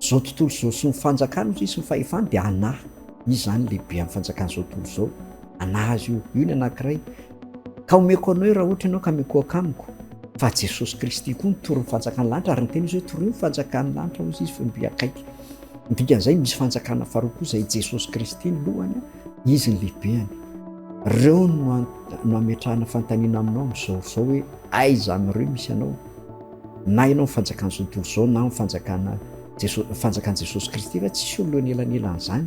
Zao tontolo zao sy ny fanjakany ozy sy ny fahefany dia anaha izy zany lehibe am fanjakana zao tontolo zao anaha azy io io ny anakiray ka omeko anao io raha ohatra ianao ka mikoaka amiko fa Jesosy Kristy koa mitory ny fanjakany lanitra ary niteny izy hoe torio ny fanjakany lanitra ozy izy fa mby akaiky dikan'izay misy fanjakana faharoa koa zay Jesosy Kristy ny lohany izy ny lehibehany reo no ametrahana fantanina aminao amzao zao hoe aiza amreo misy anao Na ianao ny fanjakan'ny tontolo izao na ny fanjakana Jesosy, ny fanjakan'i Jesosy Kristy ve tsisy olona eo anelanelan'izany.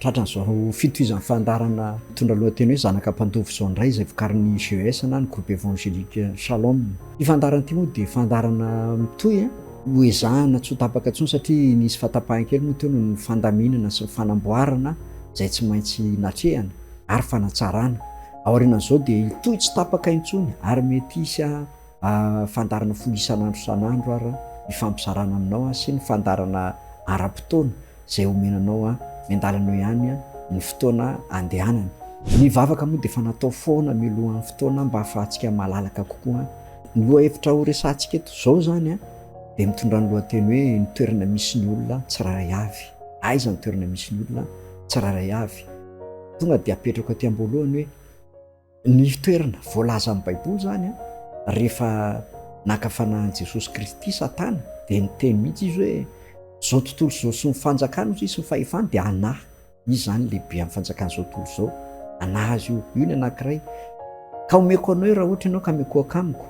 Tratran'izao fitohizan'ny fandaharana mitondra lohateny hoe Zanaka Mpandova izao indray izay vokarin'ny GES na ny Groupe Evangélique Shalom. Ity fandaharana ity moa dia fandaharana mitohy hoezahina tsy ho tapaka intsony satria nisy fahatapahan kely moa teo noho ny fandaminana sy ny fanamboarana izay tsy maintsy natrehana ary fanatsarana. Aorianan'izao dia hitohy tsy tapaka intsony ary mety hisy Fandaharana folo isan'andro isan'andro ary ny fampizarana aminao aho sy ny fandaharana ara-potoana izay omena anao aho. Miandalana eo ihany ny fotoana andehanana. Ny vavaka moa dia efa natao foana mialohan'ny fotoana mba hahafahantsika malalaka kokoa. Ny lohahevitra horesahantsika eto izao izany dia mitondra ny lohateny hoe ny toerana misy ny olona tsirairay avy. Aiza ny toerana misy ny olona tsirairay avy? Tonga dia apetrako aty am-boalohany hoe. Ny toerana voalaza amin'ny Baiboly izany rehefa naka fanahy an'i Jesosy Kristy Satana dia niteny mihitsy izy hoe izao tontolo izao sy ny fanjakany hozy sy ny fahefany dia anah, izy izany lehibe amin'ny fanjakan'izao tontolo izao, anah azy io, io ny anankiray. Ka omeko anao io raha ohatra ianao ka mikohaka amiko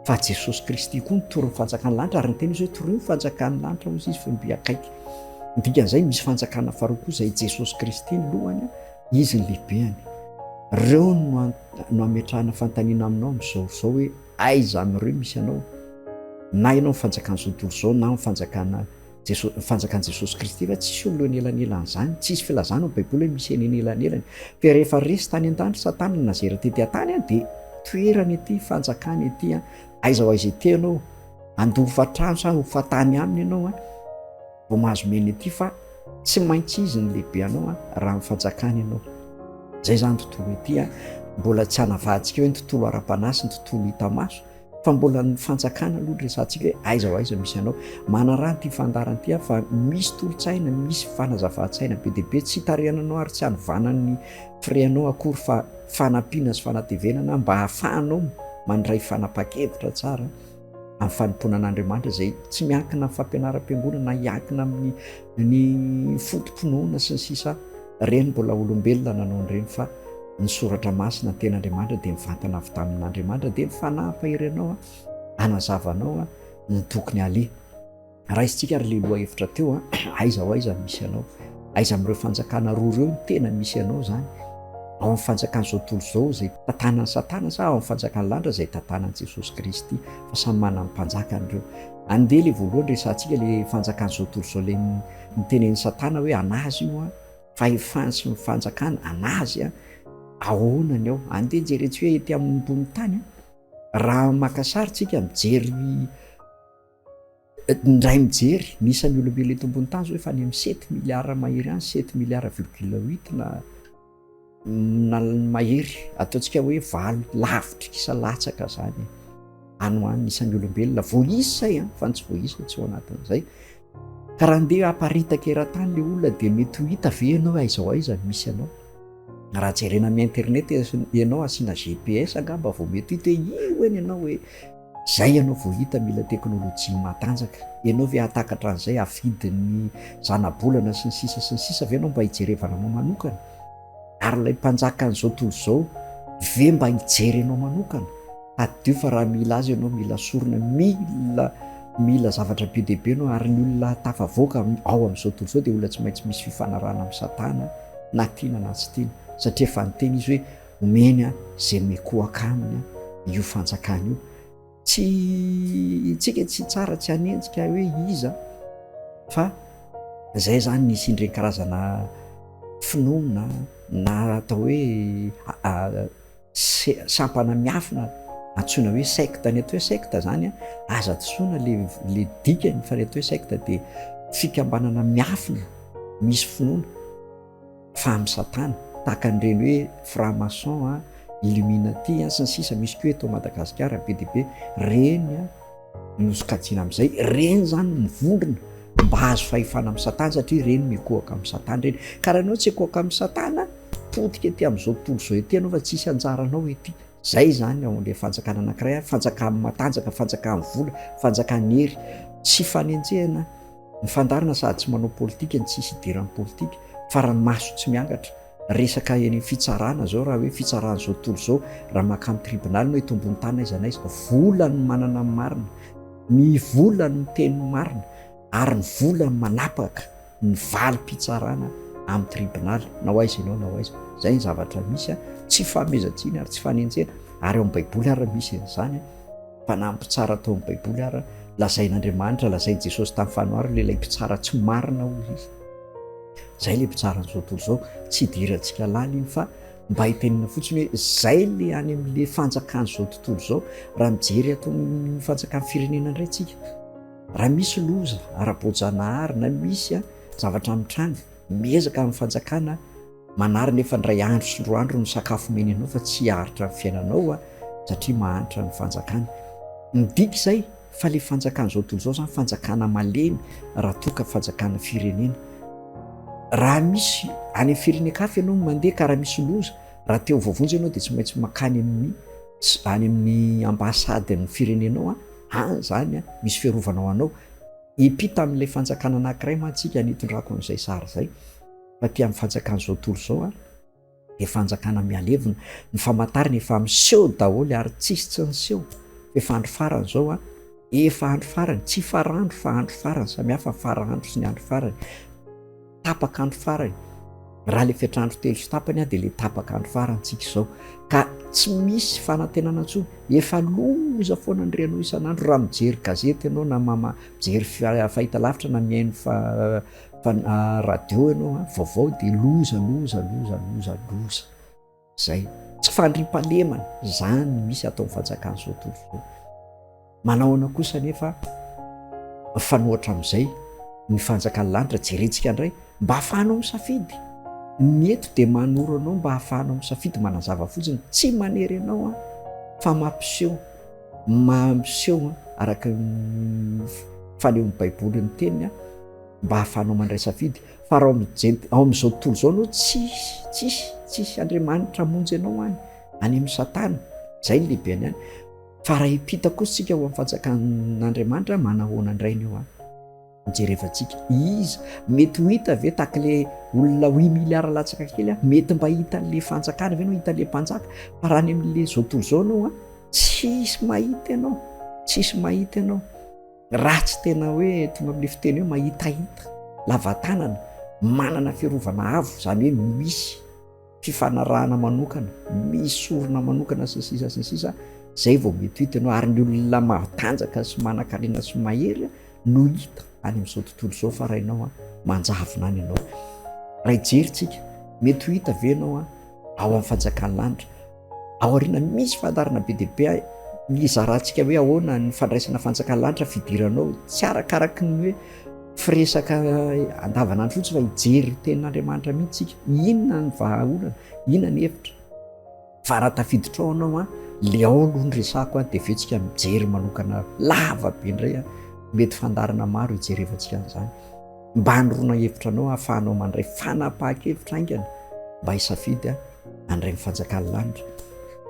fa Jesosy Kristy koa mitory ny fanjakan'ny lanitra ary niteny izy hoe toroy ny fanjakan'ny lanitra hozy izy fa mby akaiky. Ny dikan'izay misy fanjakana faharoa koa izay Jesosy Kristy ny lohany. Izy ny lehibeny. Reo no no ametrahana fanontaniana aminao amin'izao izao hoe aiza amin'ireo misy anao? Na ianao ny fanjakan'ny zontolo izao na ny fanjakana Jesosy, ny fanjakan'i Jesosy Kristy fa tsisy olona eo anelanelan'izany, tsisy filazana ao Baiboly hoe misy eny anelanelany. Fa rehefa resy tany an-tany Satana no nazera tety an-tany a dia toerany ity fanjakana ity a, aiza ho aiza ity ianao, handoa hofa-trano sa hofa-tany aminy ianao a. Vao mahazo mena ity fa tsy maintsy izy ny lehibe anao a raha ny fanjakana ianao. Zay zany tontolo ity a, mbola tsy anavahantsikeo ny tontolo ara-panahy sy ny tontolo hita maso fa mbola ny fanjakana aloha ny resahantsika hoe aiza ho aiza misy anao. Manaraha an'ity fandaharana ity aho fa misy tolo-tsaina, misy fanazavan-tsaina be dia be tsy hitarihana anao ary tsy hanovana ny frein-nao akory fa fanampiana sy fanatevenana mba hahafahanao mandray fanapahan-kevitra tsara. amin'ny fanompoana an'Andriamanitra izay tsy miankina amin'ny fampianaram-piangonana na hiankina amin'ny ny foto-pinoana sy ny sisa ireny mbola olombelona nanao an'ireny fa ny soratra masina ny ten'Andriamanitra dia mivantana avy tamin'Andriamanitra dia mifanampy ianao a hanazavanao a ny tokony aleha Raisintsika ary le lohahevitra teo a, aiza ho aiza misy anao? Aiza amin'ireo fanjakana roa ireo no tena misy anao izany? Ao amin'ny fanjakan'izao tontolo izao izay tantanan'i Satana sa ao amin'ny fanjakan'ny lanitra izay tantanan'i Jesosy Kristy? Fa samy manana ny mpanjakany ireo. Andeha le voalohany resahantsika le fanjakan'izao tontolo izao le nitenenin'i Satana hoe anazy io a, fahefany sy ny fanjakany anazy a, ahoana ny ao? Andeha jerentsika hoe ety ambonin'ny tany a, raha maka sary tsika mijery Indray mijery ny isan'ny olombelona eto ambony tany izao efa any amin'ny sept milliards mahery any, sept milliards virgule huit na na mahery, ataontsika hoe valo, lavitry kisa latsaka izany any ho any ny isan'ny olombelona, voaisa izay an, fa ny tsy voaisa tsy ao anatin'izay, ka raha andeha haparitaka eran-tany ilay olona dia mety ho hita ve ianao aiza ho aiza no misy anao? Raha jerena amin'ny internet ianao asiana GPS angamba vao mety hita hoe io hono ianao e! Zay ianao vao hita mila teknolojia matanjaka. Ianao ve hahatakatra an'izay, hafidin'ny zanabolana sy ny sisa sy ny sisa ve ianao mba hijerevana anao manokana? Ary ilay mpanjaka an'izao tontolo izao ve mba hijery anao manokana? Tadidio fa raha mila azy ianao mila sorona, mila mila zavatra be dia be ianao ary ny olona tafavoaka ao amin'izao tontolo izao dia olona tsy maintsy misy fifanarahana amin'i Satana na tiana na tsy tiana satria efa niteny izy hoe Omeny izay mikohaka aminy io fanjakana io. Tsy tsika tsy tsara tsy hanenjika hoe iza fa zay zany nisy indreny karazana finoana na atao hoe sampana miafina antsoina hoe secte, ny atao hoe secte zany a aza disoana le le dikany fa ny atao hoe secte de fikambanana miafina misy finoana. Fa amin'ny satana, tahaka an'ireny hoe franc maçon an, illuminati an, sy ny sisa misy koa eto Madagasikara be dia be, ireny no sokajiana amin'izay, ireny izany no mivondrona mba hahazo fahefana amin'ny satana satria ireny mikohaka amin'ny satana ireny, ka raha ianao tsy hikohaka amin'ny satana, potika ety amin'izao tontolo izao ety ianao fa tsy hisy anjaranao ety, izay izany ao amin'ilay fanjakana anankiray, fanjakan'ny matanjaka, fanjakan'ny vola, fanjakan'ny hery, tsy fanenjehana, Ny fandaharana sady tsy manao politika no tsisy hidiran'ny politika, faran'ny maso tsy miangatra. Resaka eny amin'ny fitsarana zao raha hoe fitsarana zao tontolo zao, raha mankany amin'ny tribunal na itombony tany na aiza na aiza, vola no manana ny marina, ny vola no miteny ny marina ary ny vola no manapaka ny valim-pitsarana amin'ny tribunal na ho aiza ianao na ho aiza. Zay ny zavatra misy, tsy fanomezan-tsiny ary tsy fanenjehana ary ao amin'ny baiboly ary misy an'izany. Mpanampy tsara tao amin'ny Baiboly ary lazain'Andriamanitra, lazain'i Jesosy tamin'ny fanoharana ilay mpitsara tsy marina hoy izy. Izay ilay mpitsara an'izao tontolo izao, tsy hidirantsika laliny fa mba hitenena fotsiny hoe izay ilay any amin'ilay fanjakan'izao tontolo izao, raha mijery ato amin'ny fanjakan'ny firenena indray isika. Raha misy loza ara-boajanahary na misy zavatra mitranga miezaka amin'ny fanjakana, Manary nefa indray andro sy roa andro ny sakafo omeny anao fa tsy haharitra ny fiainanao a satria mahantra ny fanjakana. Midika izay fa le fanjakana izao tontolo izao zany fanjakana malemy raha toa ka fanjakana firenena. Raha misy any amin'ny firenen-kafa ianao no mandeha ka raha misy loza raha te ho voavonjy ianao dia tsy maintsy makany amin'ny any amin'ny ambassade ny firenenao a any zany a misy fiarovana ho anao. Epita amin'ilay fanjakana anankiray mantsika ny itondrako an'izay sary izay. taty amin'ny fanjakan'izao tontolo izao ary dia fanjakana mihalevona, ny famantarana efa miseho daholo ary tsisy tsy niseho, efa andro farany izao a, efa andro farany, tsy farandro fa andro farany, samihafa ny faraandro sy ny andro farany, tapaka andro farany, raha ilay fetrandro telo sy tapany a dia ilay tapaka andro farantsika izao ka tsy misy fanantenana intsony, efa loza foana ny renao isan'andro raha mijery gazety ianao na mijery fahitalavitra na mihaino Fa na radio ianao an, vaovao dia loza, loza, loza, loza, loza. Izay. Tsy fandriampahalemana. Izany no misy ataon'ny fanjakana izao tontolo izao. Manahoana kosa anefa mifanohatra amin'izay ny fanjakan'ny lanitra, jerentsika indray, mba ahafahanao misafidy. Ny eto dia manoro anao mba ahafahanao misafidy manazava fotsiny, tsy manery anao an, fa mampiseho Mampiseho araka ny fanehon'ny Baiboly ny teniny mba hahafahanao mandray safidy. Fa raha ao amin'ny jent- ao amin'izao tontolo izao ianao, tsisy, tsisy, tsisy Andriamanitra hamonjy anao any, any amin'i Satana. Izay no lehibeny any. Fa raha hiampita kosa isika ho amin'ny fanjakan'Andriamanitra, manahoana indray ny eo an? Jerevantsika, iza? Mety ho hita ve tahaka ilay olona huit milliards latsaka kely aho? Mety mba hita an'ilay fanjakana ve no hita an'ilay mpanjaka? Fa raha any amin'ilay izao tontolo izao ianao an, tsisy mahita ianao, tsisy mahita ianao, raha tsy tena hoe tonga amin'ilay fiteny hoe mahitahita, lava tanana, manana fiarovana avo, izany hoe misy. fifanarahana manokana, misy orona manokana sy ny sisa sy ny sisa, zay vao mety ho hita ianao, ary ny olona matanjaka sy manankarena sy mahery no hita any amin'izao tontolo izao fa raha ianao manjavona any ianao, raha hijery tsika mety ho hita ve ianao ao amin'ny fanjakan'ny lanitra, Aoriana misy fandaharana be dia be hizarantsika hoe ahoana ny fandraisana fanjakan'ny lanitra fidiranao, tsy arakaraky ny hoe firesaka andavanandro fotsiny fa hijery tenin'Andriamanitra mihitsy tsika. Inona ny vahaolana? Inona ny hevitra? Fa raha tafiditra ao anao an, le ao aloha ny resako an, dia avy eo tsika mijery manokana lava be indray an, mety fandaharana maro hijerevantsika an'izany. Mba anoroana hevitra anao hahafahanao mandray fanapahan-kevitra haingana mba hisafidy an'ireny fanjakan'ny lanitra.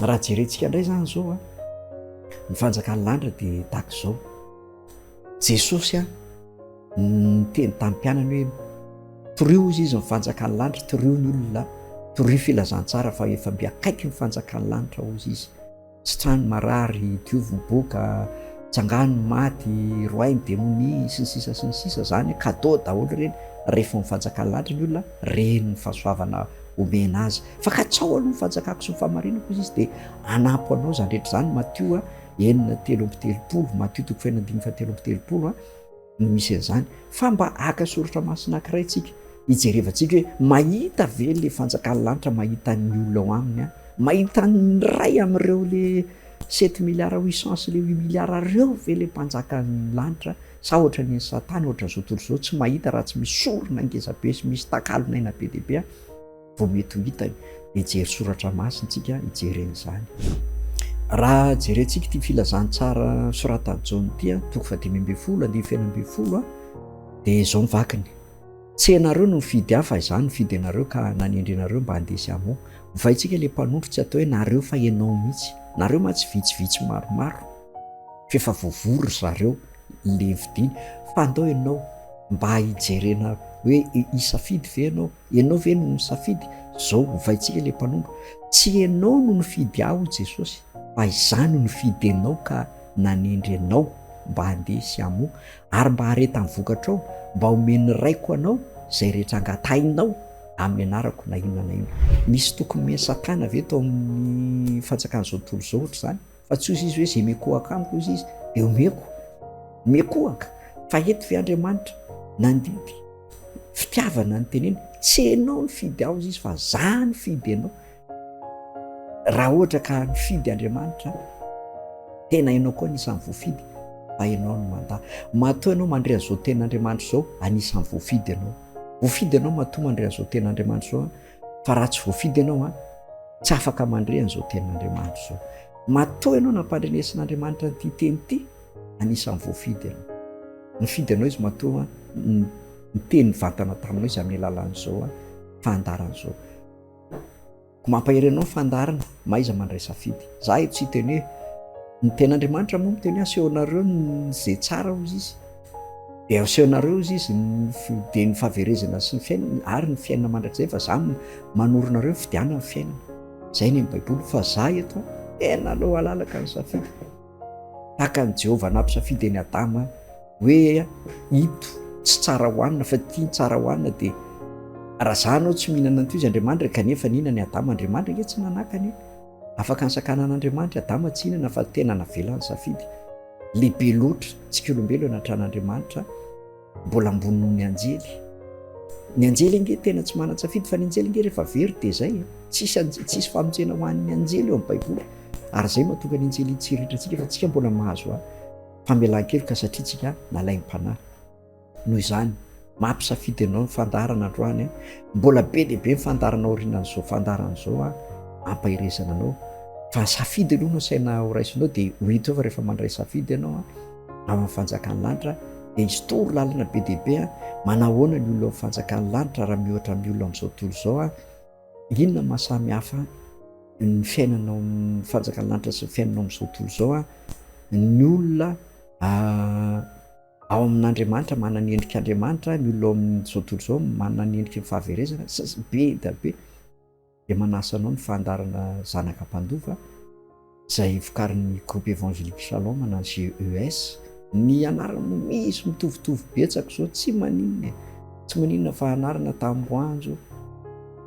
Raha jerentsika indray izany izao, ny fanjakan'ny lanitra dia tahaka izao. Jesosy a, niteny tamin'ny mpianany hoe torio izy izy ny fanjakan'ny lanitra, torio ny olona, torio filazantsara fa efa mby akaiky ny fanjakan'ny lanitra hoy izy. Sitraho ny marary, diovy ny boka, tsangano ny maty, roahy ny demonia, sy ny sisa sy ny sisa, zany cadeau daholo ireny, rehefa ny fanjakany lahatra ny olona reny ny fahasoavana omena azy, fa katsaho aloha ny fanjakako sy ny fahamarinako hoy izy dia hanampy ho anao izany rehetra izany, Matio enina telo amby telopolo, Matio toko fahenina ambin'ny fahateloamby telopolo a. no misy an'izany fa mba haka soratra masina ankiray tsika hijerevantsika hoe mahita ve le fanjakan'ny lanitra mahita ny olona ao aminy an mahita ny ray am'ireo le sept milliard huit cent sy le huit milliard reo ve le mpanjakan'ny lanitra sa ohatra ny satana ohatra zao tontolo zao tsy mahita raha tsy misy sorona ngezabe sy misy takalonaina be dia be an Vao mety ho hita io. Mijery soratra masina tsika hijerena izany. Raha jerentsika ity filazantsara soratan'i Jaona ity, toko fahadimy ambin'ny folo, andininy feno ambin'ny folo, dia izao ny vakiny. Tsy ianareo no nifidy ahy fa izaho nifidy anareo ka nanendry anareo mba handeha sy hamoa. Hovaintsika ilay mpanondro tsy atao hoe nareo fa ianao mihitsy. Nareo mantsy vitsivitsy maromaro f'efa voavoa ry zareo le vidiana fa andao ianao mba hijerena hoe hisafidy ve ianao Ianao ve no nisafidy? Izao, ovaintsika ilay mpanondro. Tsy ianao no nifidy ahy, hoy Jesosy, fa Izaho no nifidy anao ka nanendry anao mba handeha sy hamoa, ary mba hareta ny vokatrao, mba homen'ny Raiko anao izay rehetra angatahinao amin'ny anarako, na inona na inona. Misy tokony omen'i Satana ve tao amin'ny fanjakan'izao tontolo izao hoatr'izany? fa tsy hoy izy hoe izay mikohaka amiko hoy izy dia omeko mikohaka fa eto ve andriamanitra nandidy fitiavana ny teneny tsy enao ny fidy aho izy fa za ny fidy anao raha ohatra ka ny fidy andriamanitra tena enao koa anisan'ny voafidy fa enao ny manda matoa ianao mandre azao ten'andriamanitra izao anisan'ny voafidy ianao voafidy ianao matoa mandre azao ten'andriamanitra izao fa raha tsy voafidy ianao a tsy afaka mandre an'izao tenin'andriamanitra izao matoa ianao nampandrenesin'andriamanitra nyity teny ity anisan'ny voafidy ianao nifidy anao izy matoa nyteny vantana taminao izy amin'ny alalan'izao a fandarana izao ko mampahery anao fandarana maiza mandraisafidy za e tsy teny hoe ny tenin'andriamanitra moa miteny asehoanareo ny zay tsara hoy izy Dia asehonareo hozy izy ny fiodian'ny fahaverezana sy ny fiainana ary ny fiainana mandrakizay fa za manoro nareo ny fidianana ny fiainana. Zay ny baiboly fa za eto tena aleo alalaka ny safidy. Tahaka ny Jehovah nampisafidy an'i Adama hoe ito tsy tsara hohanina fa ity ny tsara hohanina dia raha za anao tsy mihinana an'ito izy Andriamanitra kanefa nihinana i Adama Andriamanitra ange tsy nanakana e. Afaka nisakana an'Andriamanitra i Adama tsy hihinana fa tena navelany safidy. Lehibe loatra tsika olombelo anatrana Andriamanitra mbola ambony noho ny anjely. Ny anjely ange tena tsy manan-tsafidy fa ny anjely ange rehefa very dia izay. Tsisy anjely, tsisy famonjena ho an'ny anjely eo amin'ny Baiboly. Ary izay mahatonga ny anjely hitsiriitra antsika fa tsika mbola mahazo famelan-keloka satria tsika nalaim-panahy. Noho izany, maha-mpisafidy anao ny fandaharana androany an! Mbola be dia be ny fandaharana aorianan'izao fandaharana izao an! Ampaherezana anao fa safidy aloha no asaina horaisinao dia ho hita eo fa rehefa mandray safidy ianao an, ao amin'ny fanjakan'ny lanitra dia hisy toro lalana be dia be an! Manahoana ny olona ao amin'ny fanjakan'ny lanitra raha miohatra amin'ny olona amin'izao tontolo izao an? Inona no mahasamy hafa ny fiainana ao amin'ny fanjakan'ny lanitra sy ny fiainana ao amin'izao tontolo izao an? Ny olona Ao amin' Andriamanitra, manana ny endrik' Andriamanitra, ny olona ao amin' izao tontolo izao manana ny endriky ny fahaverezana, be dia be, dia manasa anao ny fandaharana Zanaka Mpandova, izay vokarin' ny Groupe Evangelique Shalom na GES, ny anarany misy mitovitovy betsaka izao, tsy maninona e, tsy maninona fa anarana tamboho-anjo,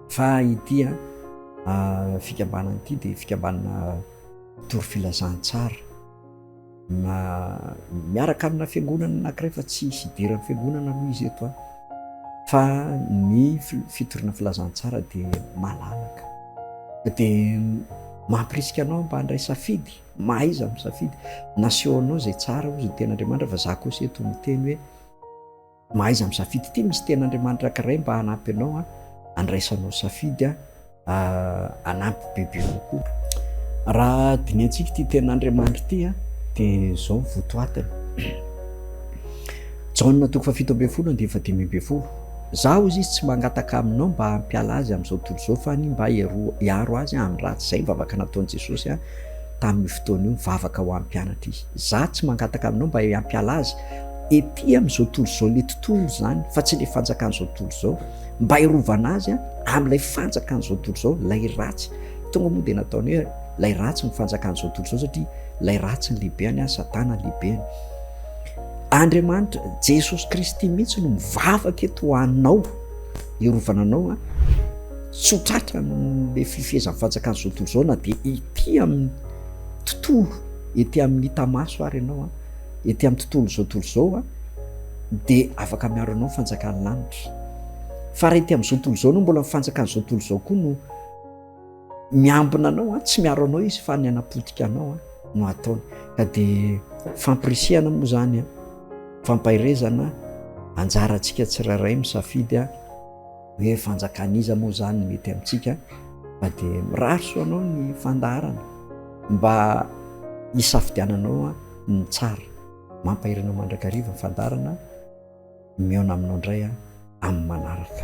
fa ity an, fikambanana ity dia fikambanana mpitory filazantsara. Na miaraka amina fiangonana anankiray fa tsy hisy hidiran'ny fiangonana aloha izy eto an! Fa ny fitoriana filazantsara dia malalaka. Dia mampirisika anao mba handray safidy, mahaiza misafidy. Nasehonao izay tsara hoy ny tenin'Andriamanitra fa za kosa eto miteny hoe. Mahaiza misafidy ity misy tena Andriamanitra ankiray mba hanampy anao an, andraisanao safidy an, hanampy bebe kokoa. Raha dinihantsika ity tena Andriamanitra ity an, dia zao ny votoatiny. Jaona toko fahafito ambin'ny folo andininy fahadimy ambin'ny folo. Za hoy izy tsy mangataka aminao mba hampiala azy amin'izao tontolo izao fa ny mba hiaro azy amin'ny ratsy. Izay ny vavaka nataon'i Jesosy an, tamin'io fotoana io, nivavaka ho an'ny mpianatra izy. Za tsy mangataka aminao mba hampiala azy. ety amin'izao tontolo izao, ilay tontolo izany fa tsy ilay fanjakan'izao tontolo izao, mba hiarovana azy a, amin'ilay fanjakan'izao tontolo izao, ilay ratsy, tonga moa dia nataony hoe ilay ratsy ny fanjakan'izao tontolo izao satria ilay ratsy ny lehibeny a, satana lehibeny. Andriamanitra, Jesosy Kristy mihitsy no mivavaka eto ho anao, hiarovana anao a, tsy ho tratra amin'ilay fifehezan'ny fanjakan'izao tontolo izao na dia ety amin'ny tontolo, ety amin'ny hita maso ary ianao a. ety amin'ny tontolo izao tontolo izao dia afaka miaro anao ny fanjakan'ny lanitra fa raha ety amin'izao tontolo izao anao mbola ny fanjakan'izao tontolo izao koa no miambina anao a tsy miaro anao izy fa ny hanapotika anao a no ataony ka dia fampirisihana moa zany a fampaherezana anjarantsika tsirairay misafidy a Hoe fanjakan'iza moa izany mety amintsika fa dia mirary soa anao ny fandaharana mba hisafidiananao ny tsara. Mampahery anao mandrakariva ny fandaharana, mihaona aminao indray amin'ny manaraka.